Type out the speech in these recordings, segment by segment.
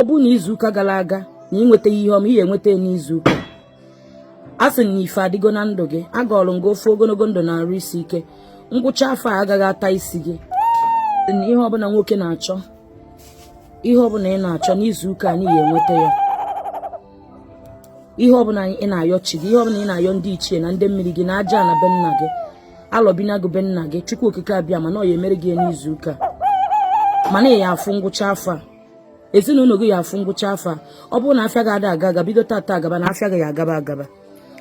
ọ bụrụ na izuụka gara aga na ị nwetaghị ihe ọma ị ga-enweta n'izuụka a sị na ife adịgo na ndụ gị agọọlụ m gị ọfọ ogologo ndụ na arụ isi ike ngwụcha afọ a agaghị ata isi gị na ihe ọbụla nwoke na-achọ ihe ọbụla ị na-achọ n'izuụka a na ị ga-enweta ya ihe ọbụla ị na-ayọ chi gị ihe ọbụla ị na-ayọ ndị ichie na ndị mmiri gị na aja ala be nna gị alọbinagụ be nna gị Chukwu okike abịama na ọ ya emere gị n'izuụka ma na ị ya afụ ngwụcha afọ a ezinụlọ gị ya afụ ngwụcha afọ a ọ bụrụ na afịa gị ada aga aga bido tata agaba na afịa gị ya agaba agaba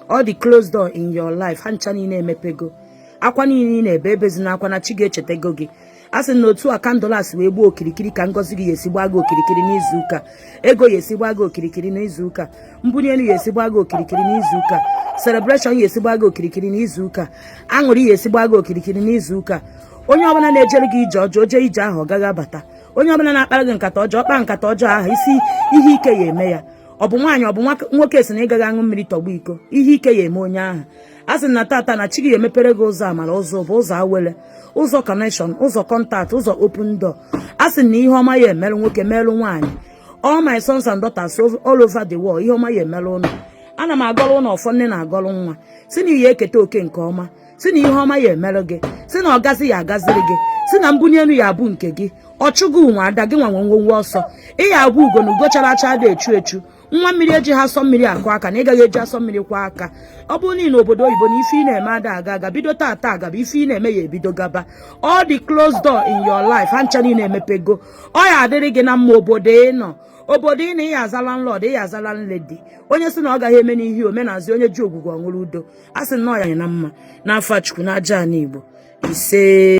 all the closed door in your life ha ncha niile emepego akwa niile ị na-ebe ebezina akwa na chi gị echetego gị a sị na otu a candle a si wee gbuo okirikiri ka ngọzi gị ya esi gbaa gị okirikiri n'izu ụka ego ya esi gbaa gị okirikiri n'izu ụka mbunye elu ya esi gbaa gị okirikiri n'izu ụka celebration ya esi gbaa gị okirikiri n'izu ụka aṅụrị ya esi gbaa gị okirikiri n'izu ụka onye ọbụla na-ejere gị ije ọjọọ jee ije ahụ ọ gaghị abata onye ọbụla na-akpara gị nkata ọjọọ kpaa nkata ọjọọ ahụ sị ihe ike ya eme ya ọ bụ nwaanyị ọ bụ nwoke sị na ị gaghị aṅụ mmiri tọgbọ iko ihe ike ya eme onye ahụ a sị na tata na chi gị emepere gị ụzọ amara ụzọ bụ ụzọ awele ụzọ connection ụzọ contact ụzọ open door a sị na ihe ọma ya emerụ nwoke merụ nwaanyị all my sons and daughters all over the world ihe ọma ya emerụ ụnụ ana m agọrọ ụnụ ọfọ nne na-agọrọ nwa sị na ị ya eketa oke nke ọma sị na ihe ọma ya emere gị sị na ọgazi ya agaziri gị sị na mbunye elu ya abụ nke gị ọchụ gị nwe ada gị nwa nwe nwọnwọ ọsọ ị ya abụ ugo na ugo chara acha adị echu echu nwa mmiri ejighị asọ mmiri akwọ aka na ị gaghị eji asọ mmiri kwọọ aka ọ bụrụ na ị nọ obodo oyibo na ife ị na-eme ada aga aga bido tata agaba ife ị na-eme ya ebido gaba all the closed door in your life ha ncha niile emepego ọ ya adịrị gị na mma obodo ị nọ obodo ị nọ ị ya aza landlord ị ya aza landlady onye sị na ọ gaghị eme n'ihi omenazi onye ji ogwugwu ọṅụrụ udo a sị na ọ ya anyị na mma n'afa Chukwu na aja ala Igbo ise